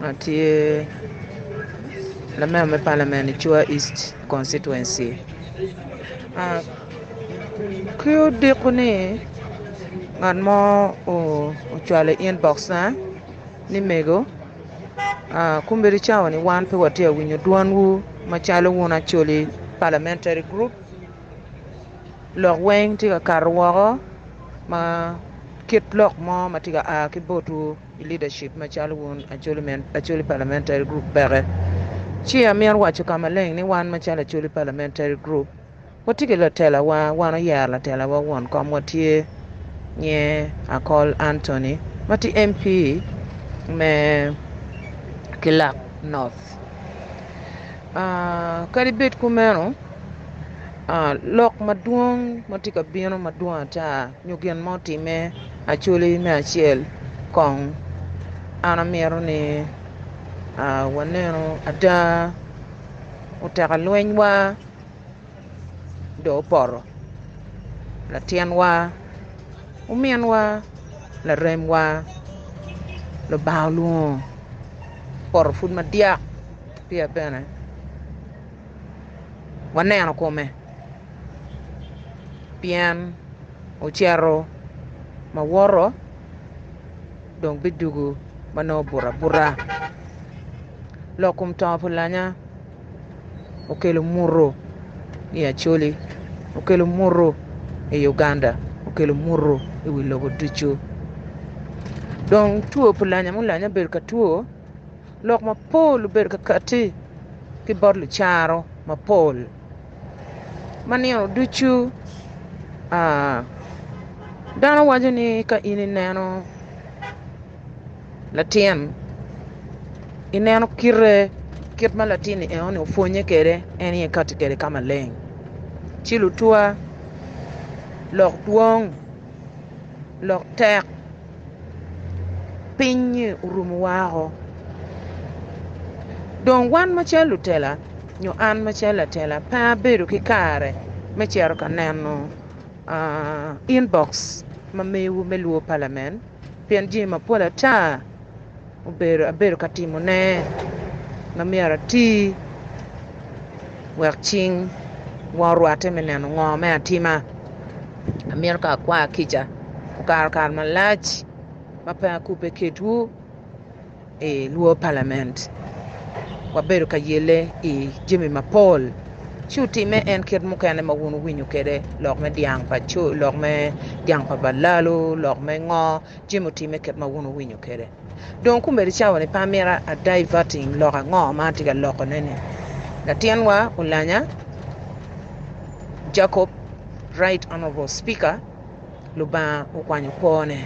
ma tye lamer me palamen i Cua East Constituency ki odiko ni ngat mo ocwalo i inbox na ni mego kombedo i cawa ni wan pe watye ka winyo dwanwu macalo wun Acholi Parliamentary Group lok weng tye ka kato woko ma kit lok mo ma tye ka a ki botwu. I leadership macalo wun Acholi Parliamentary Group peke, ci amito waco ka maleng ni wan macalo Acholi Parliamentary Group watye ki latelawa, wan oyero latelawa won komwa tye nye Akol Anthony ma tye MP me Kilak North. Kadi bed kumeno, lok madwong ma tye ka bino madwong ata, nyo gin ma otimme actually me acel kong an amito ni wanenu ada oteka lweny wa dong opoto latin wa omin wa larem wa lubanga olwongo opoto pud madyak peya bene waneno kome. pien ocito ma woto dong bidwogo ma nongo obuto abuta lok kom tongo pa lanya okelo muto i Acholi, okelo muto i Uganda, okelo muto i wi lobo ducu dong two pa lanya ma olanye obedo ka two lok mapol obedo ka katti ki bot lucaro mapol. Ma nino ducu dano waco ni ka in ineno latin ineno kite kit ma latin ni eno ni opwonnye kwede en aye ikati kwede ka maleng ci lutwa lok dwong lok tek. piny-nyi orumo woko dong wan macalo lutela nyo an macalo latela pe abedo ki kare me cito ka neno inbox ma mewu me lwor palamen pien jami mapol ata obedo abedo ka timone ma myero ati wek cing wa orwatte me neno ngo me atima amito ka akwaya kica okato kare malac ma pe akubbe kedwu i lwo palament wabedo ka yelle i jami mapol ci otime en kit mukene ma wun wuwinyo kwede lok me dyang pa co lok me dyang pa balalo lok me ngo Jim otimme kit ma wun wuwinyo kwede. Dong okumere i cawani pe amito adaivating lok ango ma atye ka lokone-ni. Latinwa Olanya Jacob, Right Honourable Speaker, Lubanga okwanyo kwone.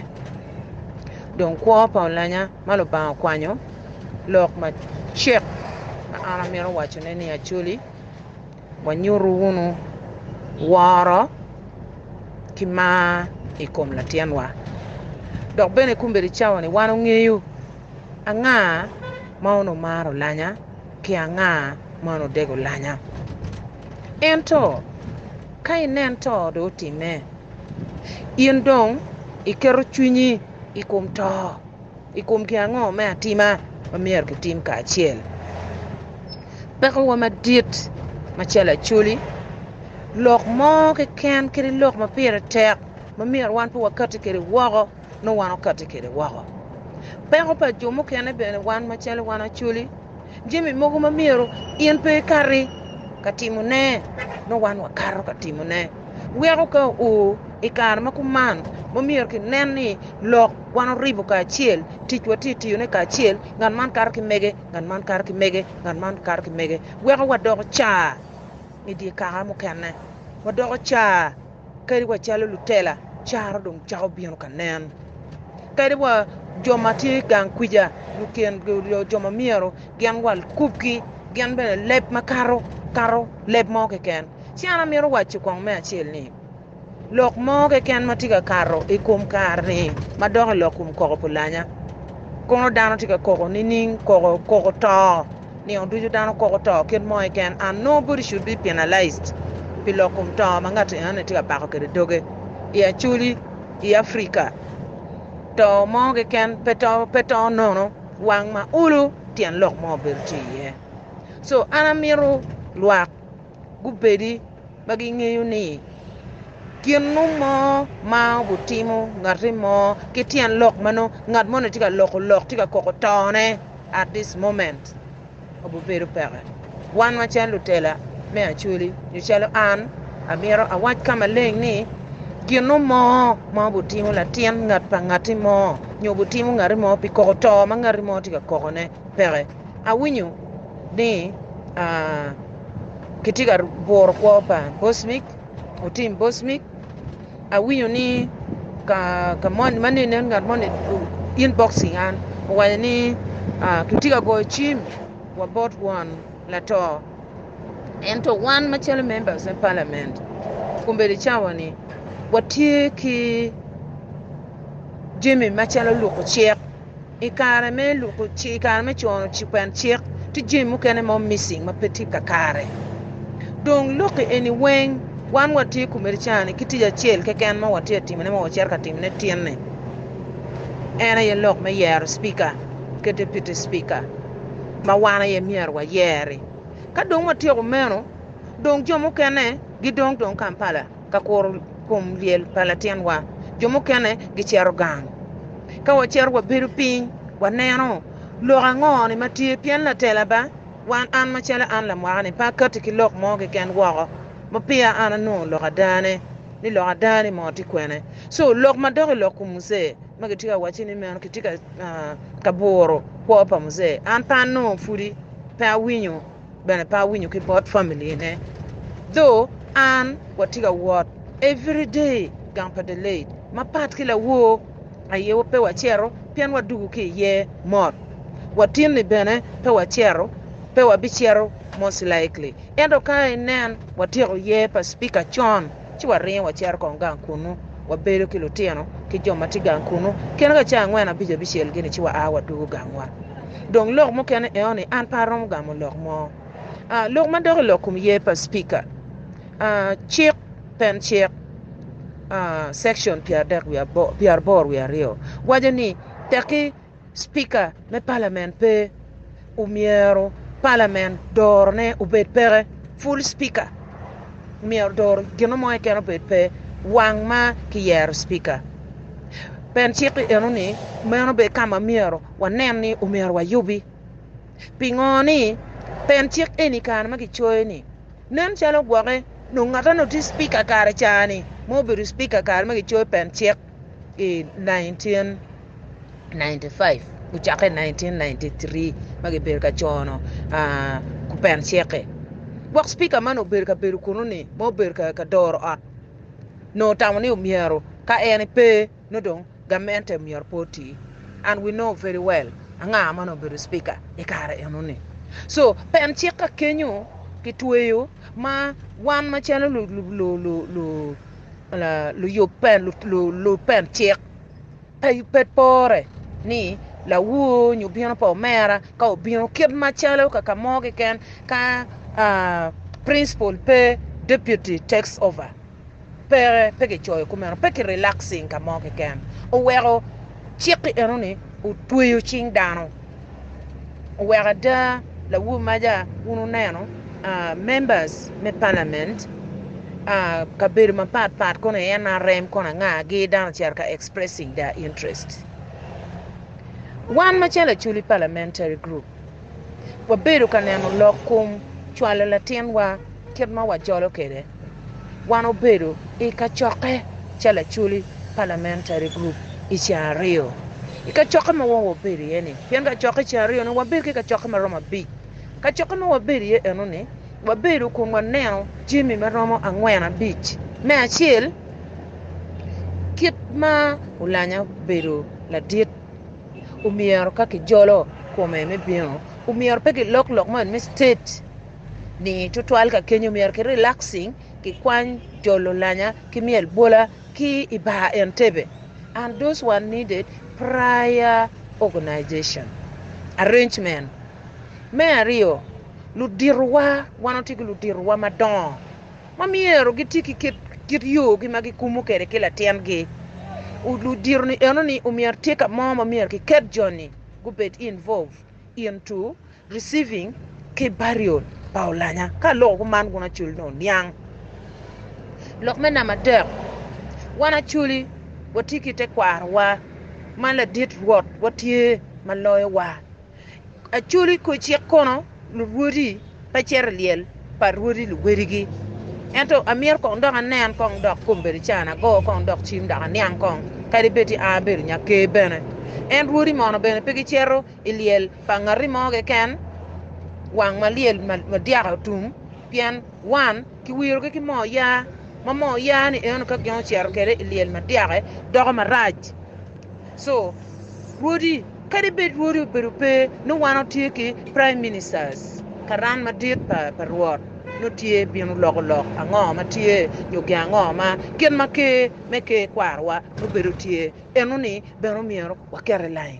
Dong kwo pa Olanya ma Lubanga okwanyo, lok macek ma an amito wacone ni Acholi, Wanyutu wunu woro ki mar i kom Latyenwa, dok bene kombeddi i cawa-ni wan ongeyo anga ma onongo maro lanya ki anga ma onongo dego lanya. Ento ka inen to dong otimme, in dong iketo cwinyi i kom to. i kom gin ango me atima ma myero kitim kacel? Pekowa madit macalo Acholi, lok mo keken kadi lok ma pire tek ma myero wan pe wakatti kwede woko nongo wan wakatti kwede woko. Peko pa jo mukene bene wan macalo wan Acholi, Jami mogo ma myero in pe ikati ka timone, nongo wan wakato ka timone. Weko ka oo i kare ma kuman ma myero kinen ni lok wan oribo kacel, tic watye tiyone kacel, ngat man kato ki mege, ngat man kato ki mege, ngat man kato ki mege. Weko wadoko car i dye kaka mukene, wadoko car. Kadi wa calo lutela, caro dong cako bino ka nen. Kadi wa jo ma tye i gang kwica, luken, jo ma myero gin wa lukubki, gin bene leb makato kato leb mo keken. Ci an amito waco kong me acel ni, lok mo keken ma tye ka kato i kom kare-ni ma dok i lok kom koko pulanya, kono dano tye ka koko nining? Koko, koko to. Nino ducu dano koko to kit mo keken and nongo body should be penalized pi lok kom to ma ngat enoni tye ka bako kwede doge i Acholi i Africa to mo keken pe to nono wang ma olo tyen lok mo bedo tye iye so an amito lwak gubedi ma gingeyo ni ginu mo ma gutimo ngati mo ki tyen lok ma nongo ngat moni tye ka loko lok tye ka koko tone at dis moment aye bedo peke. Wan macalo lutela me Acholi nyo calo an amyero awac ka maleng ni ginu mo ma butimo latin ngat pa ngati mo nyo butimo ngati mo pi koko to ma ngati mo tye ka kokone. peke. Awinyo ni kitye ka guro kwo pa Bosmik, otim Bosmik, awinyo ni ka moni ma nene ngat moni o inboxing an owaco ni kitye ka goyo cim wa bot won lato ento wan macalo members me parliament kombeddi cawa ni watye ki jami macalo luko cik. I kare me luko cik, i kare me cono cipen cik, tye jami mukene ma omissing ma pe tye kakare. Dong lokki eni weng, wan watye komedi cani ki tic acel keken ma watye ka timone ma wacito ka timone tin-ni, en aye lok me yero Cipika ki Deputy Cipika ma wan aye myero wayer-ri. Ka dong watyeko meno, dong jo mukene gidong dong Kampala. ka kuro kom lyel pa latinwa. Jo mukene gicito gang. Ka wacito wabedo piny, waneno lok ango ni ma tye? Pien latela ba, wan an macalo an lamwaka-ni, pe akatti ki lok mo keken woko ma peya an anongo lok adane, ni lok adane-ni mo tye kwene. Co lok madok i lok kom Muce ma kitye ka wacci ni meno kitye ka buro kwo pa Muce, an pe anongo pudi pe awinyo. bene pe awinyo ki bot family ne though an watye ka wot every day gang pa Delaide mapat ki lawor aye pe wacito pien wadugu ki iye mot watin ni bene pe wacito pe wabicito most likely ento ka inen watyeko year pa speaker con ci waringo wacito kong gang kunnu, wabedo ki lutino ki jo ma tye gang kunnu. Kene ka cawa angwen abico abicel-gini ci waa wadwogo gangwa. Dong lok mukene eoni, an pe aromo gamo lok mo. Lok ma dok i lok kom ye pa Cipika, Cik, Pen Cik, Section pyeraboro wiye aryo, waco ni, Tekki. Spika me palament pe omyero palament dorone obed peke, full spika omyero doro gino mo keken obed pe wang ma kiyero spika. Pen cik eno ni meno bene kama myero wanen ni omyero wayubi. Pingo ni pen cik eni kare ma kicoyo ni nen calo gwoke nongo ngata nongo tye spika kare cani ma obedo spika kare ma kicoyo pen cik. i 1995 ocakke i 1993 ma gibedo ka cono kupen ceke. Gwok Cipika man obedo ka bedo kunu-ni ma obedo ka doro ot nongo otamo ni myero ka en pe nongo dong gamente myero pe oti. And we know very well anga ma nongo obedo Cipika i kare eno-ni. So pen cik ka kenyo kitweyo ma wan macalo lupencik pe pore ni lawor nyo obino pa omera ka obino kit macalo kaka mo keken ka principal pe deputy takes over peke pe kicoyo kumeno pe ki relaxing ka mo keken oweko Cik-ki eno-ni otweyo cing dano. Oweko ada, lawobi maja, wun wuneno members me palament, kabedo mapat pat kono i NRM kono anga gi dano ocito ka expressing their interest. Wan macalo Acholi Parliamentary Group, wabedo ka neno lok kom cwalo latinwa kit ma wajolo kwede. wan obedo i kacokke ca laculi Parliamentary Group i ceng aryo i kacokke ma wun wabedo iye ni pien kacokke i ceng aryo ni wabedo ki kacokke ma romo abic kacokke ma wabedo iye eno ni wabedo kun waneno jami ma romo angwen abic me acel kit ma olanya obedo ladit omyero ka ki jolo kome me bino omyero pe ki lok lok moni me state ni tutwal ka kenyo myero ki relaxing ki kwany jolo lanya ki myel bwola ki i bar Entebbe and those were needed prior organization arrangement Me aryo ludito wa wan watye ki ludito wa madongo ma myero gi ti ki kit yo gi ma gi kumu kwede ki latin gi ludito ni eno ni omyero tye ka mo ma myero ki ket joni gubed involve into Receiving ki burial pa olanya ka aloko kuman gun acul ni oniang. Lok me namba adek, Wan aculi watye ki tekwarowa ma ladit Rwot wa tye ma loyo wa. Aculi kor cik kono lurwodi pe cito i lyel pa rwodi luwedigi. Ento amyero kong dok anen kong dok kombeddi can ago kong dok cim dok aniang kong kadi bed ti an abedo nyaker bene. En rwodi mono bene pe gicito I lyel pa ngati mo keken, wang ma lyel madyaka otum pien wan kiwirogi ki moo ya, ma moo ya ni eno ka gin ocito kwede i lyel madyaka doko marac. Co rwodi kadi bed rwodi obedo pe nongo wan watye ki prime ministers, karan madit pa Rwot nongo tye bino loko lok ango ma tye nyo gin ango ma kit ma Ker me Ker kwarowa nongo bedo tye, enoni bene omyero waket i lain.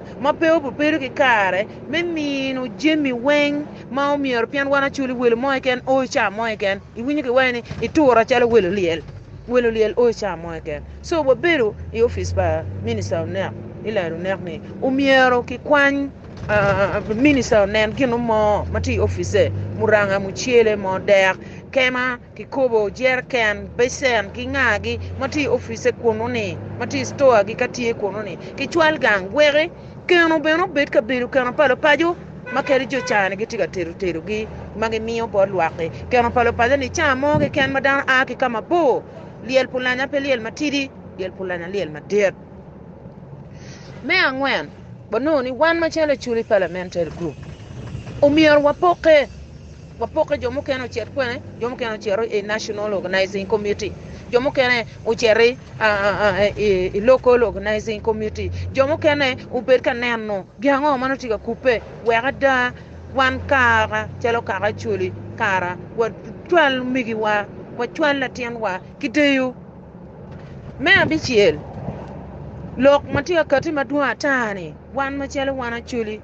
ma pe obedo ki kare me mino jami weng ma omyero pien wan acoli welo mo keken o ica mo keken iwinyo ki waci ni itura calo welo lyel welo lyel o ica mo keken so wabedo i opic pa minista onek me lelo onek ni omyero ki kwany minista onen gino mo matye i opice muranga mucele mo dek kema Kikobo jereken, becen ki ngagi ma tye i opice kunnu-ni, ma tye i citoagi ka tye kunnu-ni, kicwal gang weki keno bene obed kabedo keno pa lupaco ma kadi jo cani gitye ka tedo tedogi ma gimiyo bot lwak-ki. Keno pa lupaco-ni ca mo keken ma dano a ki ka mabor, lyel pulanya pe lyel matidi, lyel pulanya lyel madit. Me angwen, wanongo ni wan macalo Acholi Parliamentary Group, omyero wapokke Wapokke, jo mukene ocito kwene, jo mukene ocito i National Organizing Committee, jo mukene ocito i Local Organizing Committee, jo mukene obed ka neno gin ango ma nongo tye ka kubbe wek ada wan kara calo kaka Acholi kara wacwal omigiwa, wacwal latinwa ki deyo. Me abicel, lok ma tye ka kati madwong ata-ni, wan macalo wan Acholi,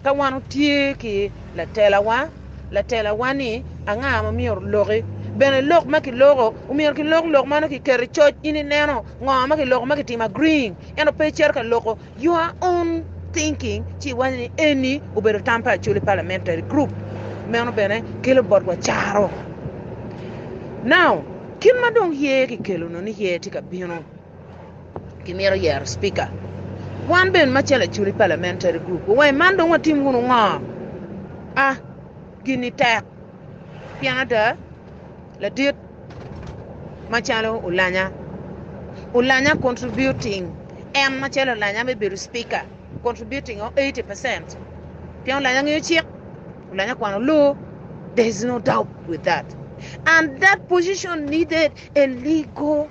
Ka wan otye ki latelawa, latelawa ni anga ma myero oloki. Bene lok ma kiloko omyero kilok lok meno ki keto i coc in ineno ngo ma kiloko ma kitimo agreeing ento pe icito ka loko your own thinking ci iwaco ni eni obedo tam pa Acholi Parliamentary Group. Meno bene kelo botwa caro. Now, kit ma dong yer kikelo-nu ni yer tye ka bino. Kimito yero Speaker. Wan bene macalo Acholi Parliamentary Group wawenge man dong watim wunu ngo? A. Gini tek pien ada ladit macalo Olanya, Olanya contributing en macalo Olanya me bedo Speaker contributing o eighty percent pien Olanya ngeyo cik, Olanya kwano law, there is no doubt with that and that position needed a legal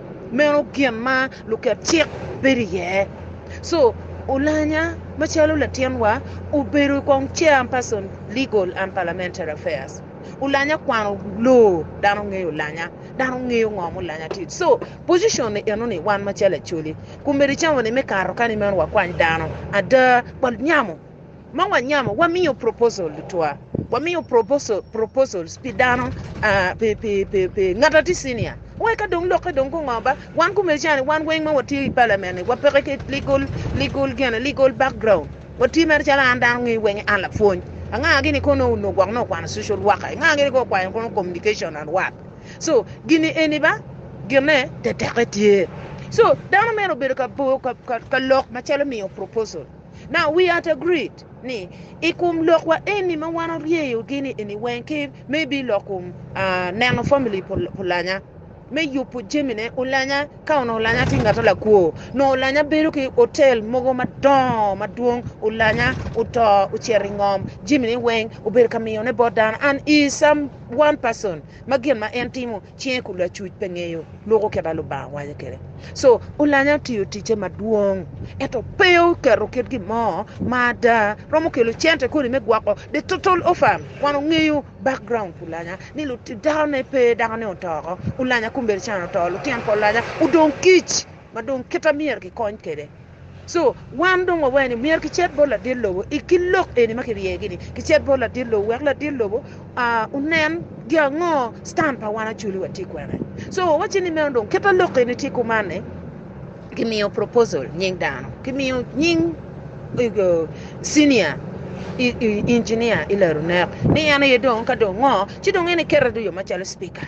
meno gin ma luket cik bedo iye so olanya macalo latin wa obedo kong chair person legal and parliamentary affairs olanya kwano loo dano ngeyo olanya dano ngeyo ngo ma olanya tye so position ni eno ni wan macalo acholi kombedi cawa ni me kato kani meno wakwany dano ada pa nyamo Ma wanyamo, wamiyo proposal tutwa. Wamiyo proposal, proposals pi dano, ah, pi, pi, pi, pi ngat ati senior. Wai ka dong lokke dong gungo ba. Wan kumece ni wan weng ma watye i parliament ni wapeke ki legal, legal gene, legal background. Watye mere calo an dano ngi weng an lapwony. Anga gini ko no uno gwok no kwano social worker. Anga gini ko kwanyo kono communication and what. So, gini eni ba gine teteke tye. So, dano mere obedo ka, ka, ka, ka lok macalo miyo proposal. Now we at agreed ni i kom lokwa eni ma wan oryeyo gini eni weng ki me bi lok kom uh, neno family pulanya me yubo jemine olanya ka ono olanya ti ngato lakwo no olanya bedo ki hotel mogo madongo madwong olanya oto ocero ingom jemine weng obedo ka miyone bot dano and is some one person ma gin ma en timo Cinge kun lacuc pe ngeyo luko kit ma Lubanga waco kwede. So, Olanya otiyo ticce madwong, ento pe oketo kit gin mo ma ada romo kelo cente koni me gwoko the total offam. Wan ongeyo background Olanya ni dano ne pe, dako ne oto oko, Olanya kombedo cen oto, lutino pa Olanya odong kic. ma dong kita myero kikony kwede. So, wan dong wawero ni myero kicit bot ladit lobo i ki lok eni ma kiryegi-ni. Kicit bot ladit lobo wek ladit lobo onen gi ango stand pa wan Acholi wa tye kwene. So, wawacci ni meno dong kita lok eni tye kuman ni kimiyo proposal nying dano, kimiyo nying senior engineer i Larunek ni en aye dong ka dong ngo ci dong en ekete dong yo macalo speaker.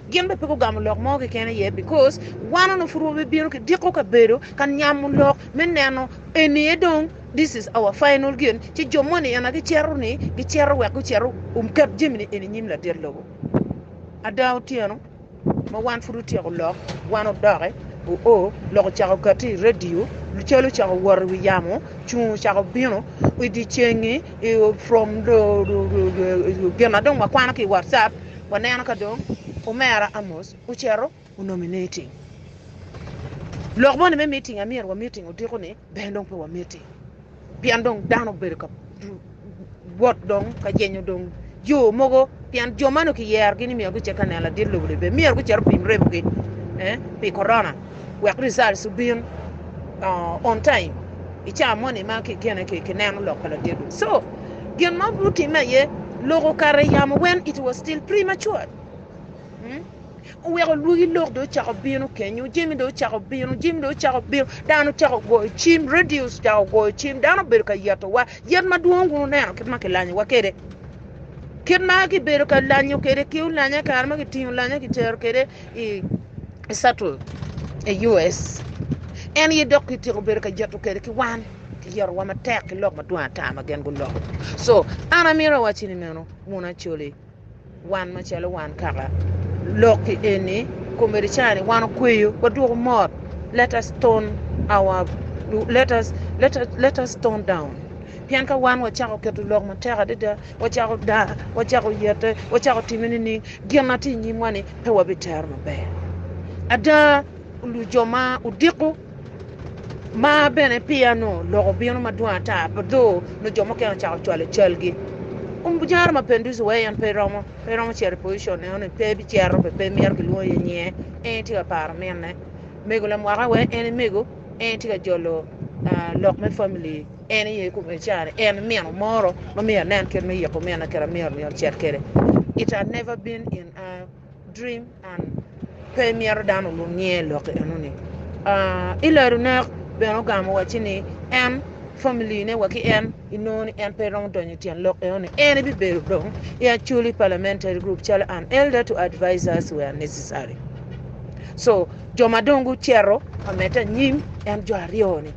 Gin bene pe gugamo lok mo keken aye because wan onongo pud wabibino ki diko kabedo ka nyamo lok me neno eni aye dong this is our final gin ci jo moni ena gicito ni gicito wek gucito oket jami ni eni inyim ladit lobo. Ada otyeno ma wan pud otyeko lok wan odoke oo lok ocako okati i radio cal ocako wot i wi yamo cungo ocako bino idye cengi from gin ma dong wakwano ki i WhatsApp. Waneno ka dong omera Amos ocito onongo i meeting. Lok moni me meeting a myero wameeting odiko-ni bene dong pe wameeting pien dong dano obedo ka wot dong ka jenyo dong jo mogo pien jo meno kiyerogi ni myero gucit ka neno ladit lobo libbe myero gucit opim remogi eh, pi korona wek results obin uh, on time i caa moni ma kikene kineno lok pa ladit lobo so gin ma obino timme aye loko kare yamo when it was still premature. Hmm? Oweko lwogi lok dong ocako bino kenyo, jami dong ocako bino, jami dong ocako bino, dano ocako goyo cim, radio ocako goyo cim, dano obedo ka yetowa. Yet madwong kun oneno kit ma kilanyowa kede. Kit ma kibedo ka lanyo kede, ki olanya kare ma kitingo lanya kitero kede i Saturn, i US. En ye dok kitiko bedo ka yeto kede ki wan. Kiyeto wa matek ki lok madwong ata ma gin guloko. So, an amito awacci ni meno, wun Acholi, wan macalo wan kaka lok-ki eni, komedi cani wan okweyo, wadwoko mot, let us tone our, let us, let us, let us tone down. Pien ka wan wacako keto lok matek adada, wacako daa, wacako yete, wacako time nining, gin ma tye i nyimwa-ni pe wabitero maber. Ada, lu jo ma odiko, Ma bene peya nongo lok obino madwong ata pa dho nongo jo mukene ocako cwalo calgi. Jami Mapinduci wee en pe romo pe romo cito i position eno ni pe bicito pe pe mito kilwongo iye nyinge en tye ka paro minne. Mego lamwaka wee en mego en tye ka jolo lok me family en aye i kome ica ni en nino moro ma myero anen kit me yiko minna kit ma myero myero ocit kwede it had never been in a Dream on. Pe myero dano olub niye lok enoni. Uh, ilero nek bene ogamo wacci ni en family ne wa ki en inongo ni en pe romo donyo tyen lok enoni. En ibibedo dong i actually parliamentary group calo an elder to advisors were necessary. So, jo ma dong gucero ameta nyim en jo aryo ni.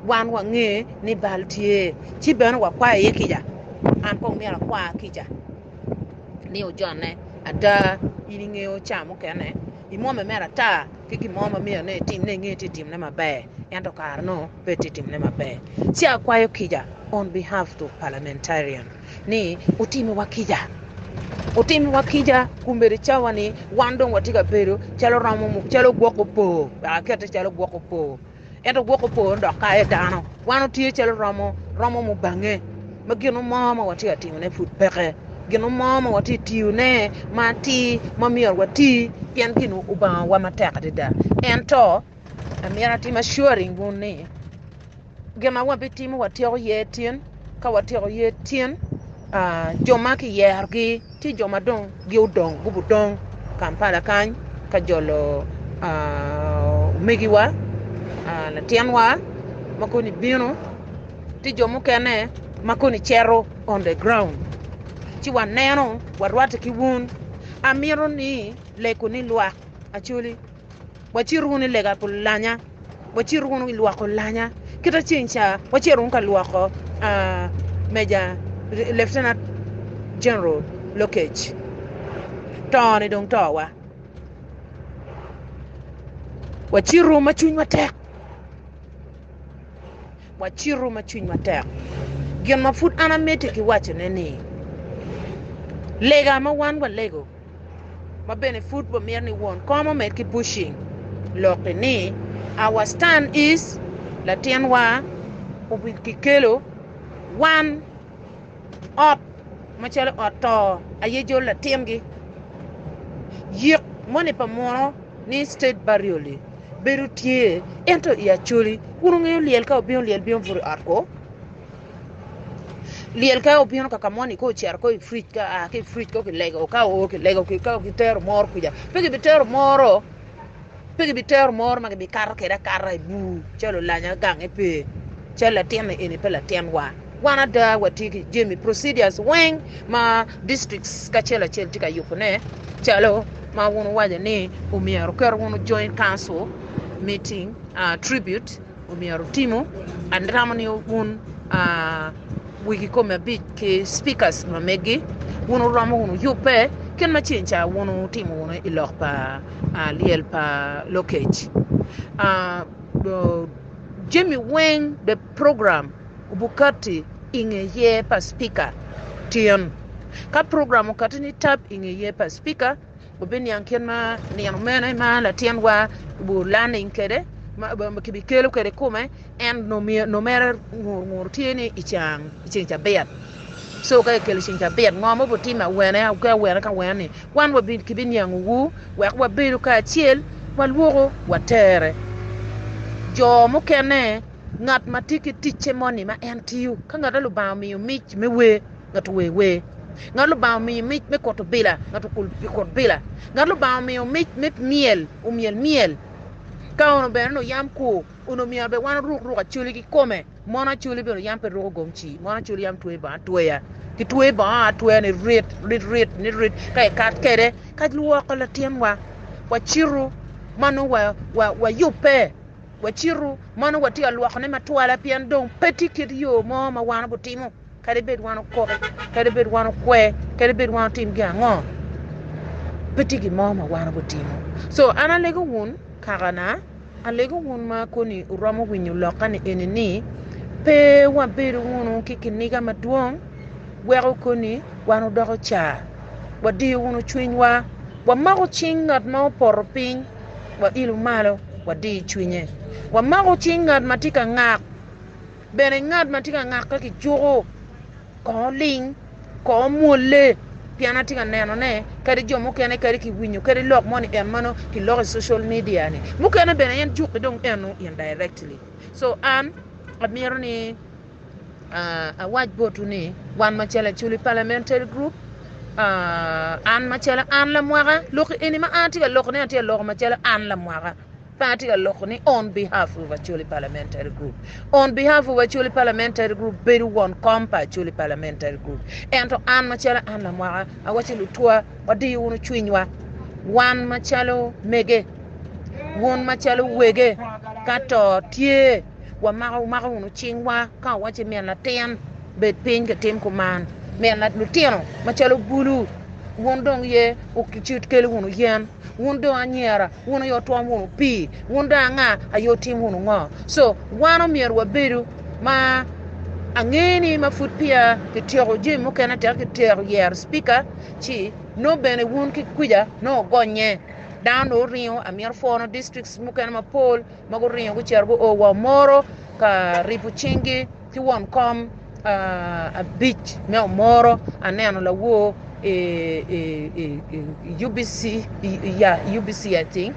Wan wange ni bal tye, ci bene wakwayo iye kica, an kong myero akwa kica ni ojonne. Ada, in ingeyo ca mukene imwomme mere ata ki gin mo ma myero ni etimne, ingeyo tye ka timne maber, ento kare nongo pe tye ka timne maber. Ci akwayo kica on behalf to parliamentarian ni otimiwa kica, otimiwa kica kombeddi cawa-ni wan dong watye ka bedo calo romo, calo gwoko opor, wek akette calo gwoko opor. Ento gwoko po dok kayo dano. Wan otye calo romo romo mubange ma gino mo ma watye ka timone pud peke, gino mo ma watye ka tiyone ma atir ma myero wati pien gin obangowa matek adada. Ento myero atim assuring wun ni gin ma wabitimo watyeko ye tin, ka watyeko ye tin jo ma kiyerogi. Ci jo ma dong giodong gubudong Kampala kany ka jolo omegiwa, latinwa ma koni bino, ci jo mukene ma koni cito on the ground ci waneno warwatte ki wun. Amito ni leko ni lwak Acholi. wacit wunu i lega pi lanya, wacit wunu i lwoko lanya. Kita ceng ca wacito wunu ka lwoko uh, Meja Lieutenant General Lokech. Tone dong towa. Wacitu ma cwinywa tek. Wacitu ma cwinywa tek. Gin ma pud an amiti ki wacone ni, lega ma wan walego ma bene pud wamito ni won kom omed ki bushing lokki ni our stand is latinwa obi kikelo wan ot macalo ot to aye jol latingi yik moni pa muno ni state burial-li bedo tye ento i acholi wun wungeyo lyel ka obino lyel bino buto i ot kwo Lyel ka obino kaka moni ka ocito ko i fridge ka a ki i fridge ko kilego ka oo kilego ka kitero moro kuca pe kibitero moro pe kibitero moro ma kibikato kwede akata i bur calo olanya gange pe calo latinni eni pe latinwa wan ada watye ki jami procedures weng ma districts kacel acel tye ka yubone calo ma wun wuwaco ni omyero oket wunu join council meeting uh, tribute myero wutimu, anramo ni wun wik i kome abic ki speakers ma megi wun wuromo wunu yubbe kit ma ceng ca wun wutimo wunu i lok pa lyel pa lokec. Jami weng the program obukati i nge yer pa speaker tin. Ka program okati ni tap i nge yer pa speaker Wubiniang kit ma nino mene ma latinwa obuto laning kwede, ma kibikelo kwede i kome, en nongo mere ngur tye ni i ceng cabit. Coo ka kikelo i ceng cabit, ngo ma obitime awene ki awene ki awene ni wan kibiniangowu wek wabedo kacel, walwoko, watere. Jo mukene, ngat ma tye ki ticce moni ma en tiyo, ka ngat ma Lubanga omiyo mic me wer, ngat ower wer, ngat Lubanga omiyo mic me koto bila, ngat okul okut bila, ngat Lubanga omiyo mic me myel omyel myel. Ka ono bene onongo yam kur, onongo myero bene wan oruk ruk acoli kikome, mon acoli bene yam pe ruko gomci, mon acoli yam tweyo bongo atweya, kitweyo bongo atweya nirit nirit nirit ka ikato kwede ka lwoko latinwa, wacitu ma nongo wa wayubbe, wacitu ma nongo watye ka lwokone matwala pien dong pe tye kit yo mo ma wan gutimo. Kadi bed wan okok, kadi bed wan okwe, kadi bed wan otim gin ango, pe tye gin mo ma wan obitimo. So an alego wun kakana, alego wun ma koni wuromo winyo lokka-ni eni ni, pe wabedo wunu ki kiniga madwong weko koni wan wudoko ca, wadiyo wunu cwinywa, wamako cing ngat ma opoto piny, wailo malo, wadiyo cwinye, wamako cing ngat ma tye ka ngak. Bene ngat ma tye ka ngakke ki cuko kongo ling, kongo mwolle, pien atye ka nenone kadi jo mukene kadi ki winyo kadi lok mo ni en mano ki loko i social media ni mukene bene en jukke dong eno indirectly so an amito ni uh, awac botu ni wan macalo aculi parliamentary group uh, an macalo an lamwaka loki eni ma an atye ka loko ni atye ka loko macalo an lamwaka Party oloko ni On Behalf of Acholi Parliamentary Group. On Behalf of Acholi Parliamentary Group bedo won kom pa Acholi Parliamentary Group. Ento an macalo an lamwaka awaco lutwa wadiyo wunu cwinywa wan macalo mege wun macalo wege ka to tye wamako wumako wunu cingwa ka wawaco min latin bed piny kitim kuman min lutino macalo bulu wun dong ye ucut kelo wunu yen Wun dong anyira, wun aye wutwom wunu pii, wun dong anga aye wutim wunu ngo? So wan omyero wabedu ma ange ni ma pud peya kityeko jami mukene teka kitero yero speaker ci nongo bene wun ki kwica nongo wugonye. Dano nongo oringo amyero pwono districts mukene mapol ma guringo gucito guo wa omoro ka ripo cinggi. Ci won kom abic me omoro aneno lawor UBC I think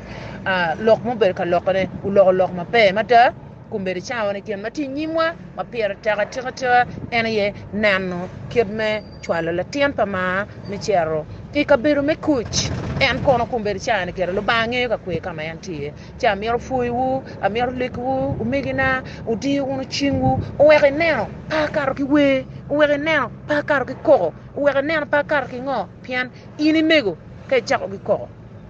lok ma obedo ka lokone oloko lok maber mada kun bedo cawa ni gin ma tye inyimwa ma pire tek atika tika en aye neno kit me cwalo latin pa mar me cito I kabedo me kuc en kono kun bedo cawa ni gire Lubanga ngeyo ka kwer ka ma en tye iye. Ci amito pwoyiwu, amito lekiwu, omegina, wudiyo wunu cingwu, oweko ineno pe akato ki wer, oweko ineno pe akato ki koko, oweko ineno pe akato ki ngo, pien in imego ka icako ki koko,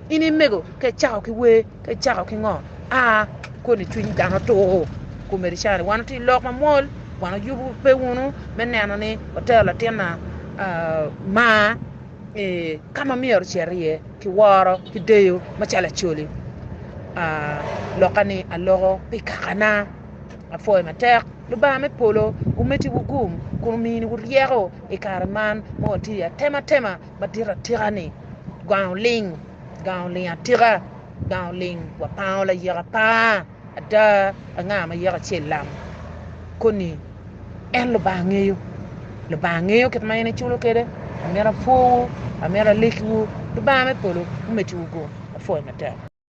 in imego ka icako ki wer, ka icako ki ngo, aa, koni cwiny dano tur. Komedi ca ni wan watye i lok mamwol, wan wayubo pe wunu me neno ni watero latinna mar. i ka ma myero ocit iye ki woro ki deyo macalo Acholi. Lokka ni aloko pi kakana. Apwoyo matek. Lubanga me polo omeddi wu gum kun omini wu ryeko i kare man ma watye iye. Atemo atema madit atika ni gang oling, gang oling atika, gang oling. Wapango layeka pa. Ada, anga ma yeko acel lamo koni en Lubanga ngeyo? Lubanga ngeyo kit ma en eculo kwede. Amito apwowu, amito alikwu. Lubanga me polo omeddi gu apwoyi matek.